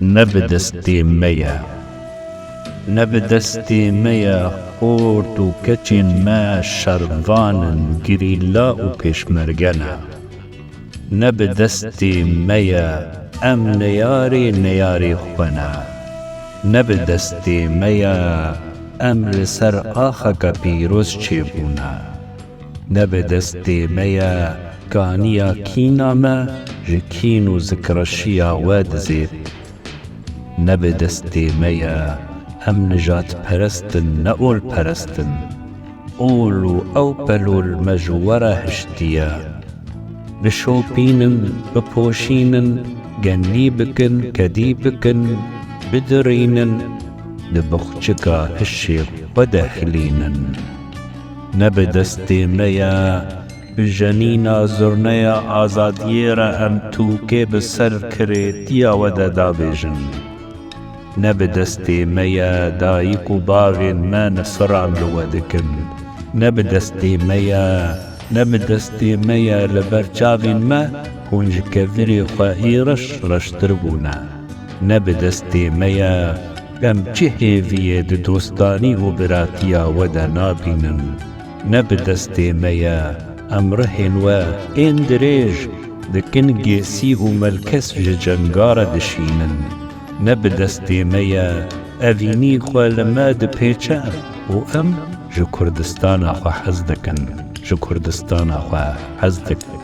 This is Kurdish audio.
Ne bi destê me ye. Ne bi destê me ye xort û keçên me şervan in, gerîla û pêşmerge ne. Ne bi destê me ye, em neyarê neyarê xwe ne. Ne bi destê me ye, em li ser axeke pîroz çêbûne. Ne bi destê me ye, kaniya kîna me ji kîn û zikreşiya we dizêt. Ne bi destê me ye, em nijadperestin ne olperestin. Ol û ew pelol me ji we re hiştiye. Bişopînin, bipoşînin, genlî bikin, kedî bikin, bidirînin, di boxçika hişê xwe de hilînin. Ne bi destê me ye, bi jenîna zurneya azadiyê re em tûkê bi serkirêtiya we de dabêjin. Ne bi destê me ye dayîk û bavên me nifran li we dikin. Ne bi destê me ye, ne bi destê me ye li ber çavên me hûn ji kevirê xwe ê reş reştir bûne. Ne bi destê me ye, em çi hêviyê di dostanî û biratiya we de nabînin. Ne bi destê me ye, em rihên we ên dirêj dikin gêsî û melkes ji cenga re dişînin. Ne bi destê me ye, evînî xwe li me dipêçe û em ji Kurdistana xwe hez dikin, ji Kurdistana xwe hez dikin.